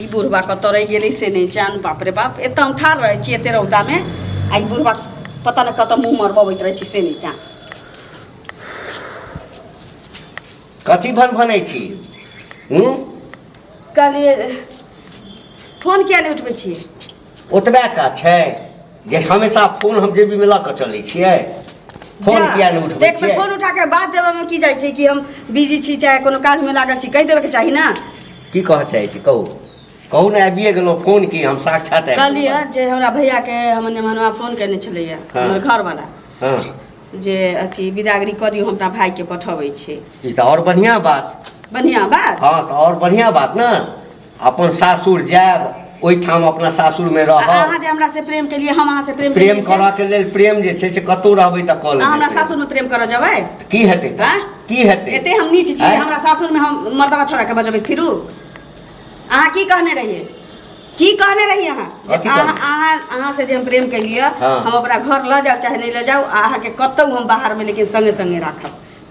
ई बुढ़बा कतऽ रहि गेलै से नहि जान बाप रे बाप एतऽ हम ठाढ़ रहै छी एते रौदामे आ ई बुढ़बा पता नहि कतऽ मुँह मरबबैत रहै छी से नहि जान कथी भन भनै छी हूँ कहलिए फोन किया नहि उठबै छी ओतबे काज छै जे हमेशा फोन हम जेबीमे लऽ कऽ चलै छियै फोन जा, किया नहि उठबै देख छियै फोन उठा के बात देबे में की जाइ छै कि हम बिजी छी चाहे कोनो काज में लागल छी कहि देबे के चाही ना की कहऽ चाहै छी कहू कहू ने आबिए गेलहुँ फोन की हम साक्षात आबि गेलहुँ। कहलिए जे हमरा भैया के हमर नेमनवा फोन केने छलैया हाँ। हमर घर वाला हँ जे अथी बिदागरी कऽ दियौ हम अपना भाई के पठबै छी ई तऽ आओर बढ़िआँ बात बढ़िया बात हँ तऽ आओर बढ़िआँ बात ने अपन सासुर जायब ओहिठाम अपना सासुरमे रहब अहाँ जे हमरा से प्रेम केलियै हम अहाँ से प्रेम प्रेम करऽ के लेल प्रेम जे छै से कतौ रहबै तऽ कऽ लेबै हमरा सासुर में प्रेम करऽ जेबै की हेतै तऽ की हेतै एते हम नीच छी हमरा सासुर में हम मर्दवा छोड़ा के बजबै फिरू अहाँ की कहने रहियै की कहने रही अहाँ अहाँ अहाँ से जे हम प्रेम केलियै हम अपना घर लऽ जाउ चाहे नहि लऽ जाउ अहाँके कतौ हम बाहर में लेकिन संगे संगे राखब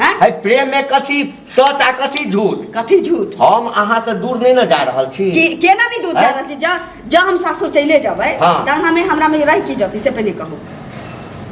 हैं? है प्रेम में कथी सच आ कथी झूठ कथी झूठ हम अहाँ से दूर नहीं न जा रहल छी कि केना नहीं दूध हैं? जा रहल छी जा जा हम सासुर चले जबै हाँ। त हमें हमरा में रह की जति से पहले कहू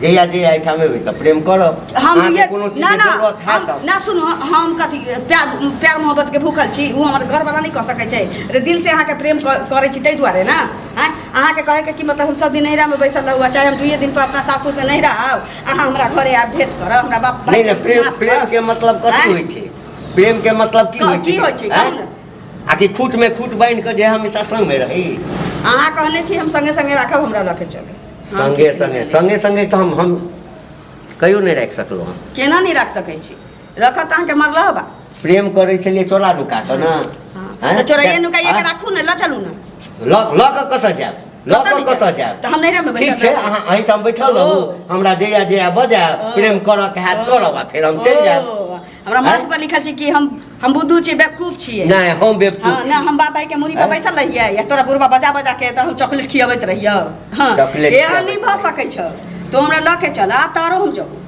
जहिया जहिया एहिठाम एबै तऽ प्रेम करब हम अहाँके ये कोनो चीज ना के ना जरूरत है हम- तब ना सुन हम कथी प्यार प्यार मोहब्बत के भूखल छी वो हमर घर वाला नहीं कह सकै छै रे दिल से अहाँ के प्रेम क- करै छी ताहि दुआरे ना हैं अहाँ के कहे के कि मतलब हम सब दिन नैहरा में बैसल रहू आ चाहे हम दुइये दिन पर अपना सासुर से नैहरा आउ अहाँ हमरा घरे आब भेट कर हमरा बाप भाई नहीं नहीं प्रेम प्रेम के मतलब कथी आँय? होई छै प्रेम के मतलब की का- होई छै की होई छै? आँय? कहू ने। आ कि खूट में खूट बांध के जे हमेशा संग में रही अहाँ कहने छी हम संगे संगे राखब हमरा लऽ के चले संगे संगे संगे संगे तो हम हम कहियो नहीं रख सकलो हम केना नहीं राख सकै छी रखत अहाँके मरलह बा प्रेम करै छलियै चोरा नुका कऽ ने हाँ, हैं? तो चोरैया नुका ये हाँ? के राखू ने ल चलू ना लऽ लऽ कऽ कतऽ जायब लऽ कतऽ कऽ नहि कतऽ जायब? जायब तऽ हम नैहरा मे ठीक बैठल छै रहब। अहाँ अहीं ठाम बैठल रहू ओ। हमरा जहिया जहिया बजायब ओ। प्रेम करऽ के हैत करब आ फेर हम चलि जायब ओ, हमरा हैं? माथ पर लिखल छै कि हम हम बुद्धू छी बेवकूफ छियै नहि हम हाँ, बेवकूफ ना छी। हम बाप भाई के मुड़ी पर हैं? बैसल रहियै या तोरा बुढ़वा बजा बजा के तऽ हम चॉकलेट खियाबैत रहियै हाँ चॉकलेट एहन खियाबैत नहीं भऽ सकै छौ तो हमरा लऽ के चल आ तारो हम जाऊ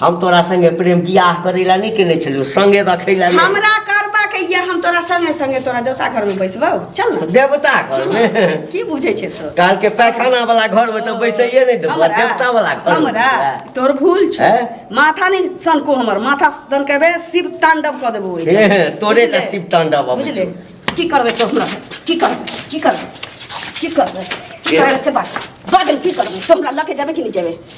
हम तोरा संगे प्रेम बियाह करै ला नहि केने छलियौ संगे रखै ला नहि। हमरा करबा के ये हम तोरा संगे संगे तोरा देवता घर में बैसबौ चल ने देवता घरमे की बुझै छै तो कालके पैखाना वाला घरमे तऽ बैसैए नहि देबो हमरा? देवता वाला घरमे हमरा बैसबै। तोहर भूल छै हैं? माथा नहि सनको हमर माथा सनकेबे शिव तांडव कऽ देबो ओहि हे, हे, तोरे बुझले? तऽ शिव तांडव अबै बुझले छौ। की करबै तो हमरा की करबै की करबै की करबै की हे। करबै से बात बाजल की करबै तो हमरा लऽ के जेबै कि नहि जेबै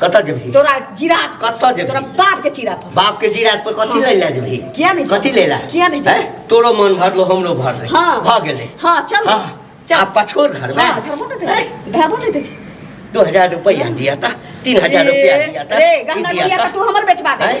कतऽ जेबही तोरा जिरात पर- कतऽ जेबही? तोरा बाप के चिरा पर बाप के जीराज पर कथी लै लए जेबही किया नहि कथी लै लए किया नहि हैं? तोरो मन भरलो हमरो भरले हाँ। भऽ गेलै हाँ, चल। हाँ। चल। आ पछोड़ घरमे हाँ, धरबो नहि हैं? देखे धरबो नहि देखे दू हजार रुपैआ दिया तऽ तीन हजार रुपैआ दिया तऽ रे ई गहना दिया गुड़िया तऽ तऽ तू हमर बेचवा दे हैं?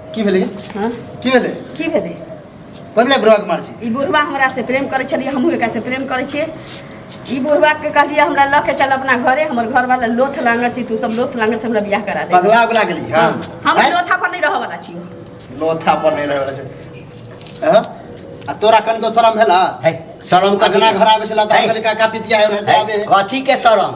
की भेलै हाँ? की भेलै की भेलै कथी बुढ़वा के मार छी ई बुढ़वा हमरा से प्रेम करै छलिए हमहूँ एकरा से प्रेम करै छियै ई बुढ़वा के कहलिए हमरा लऽ के चल अपना घरे हमर घर वाला लोथ लांगर छी तू सब लोथ लांगर से हमरा बियाह करा दे पगला उगला गेली हां हम हाँ? लोथा पर नहीं रह वाला छी लोथा पर नहीं रह वाला छी हां आ तोरा कनको शरम भेला है शरम कथी अगना घर आबे छला त कहली का का पितिया है रहते आबे कथी के शरम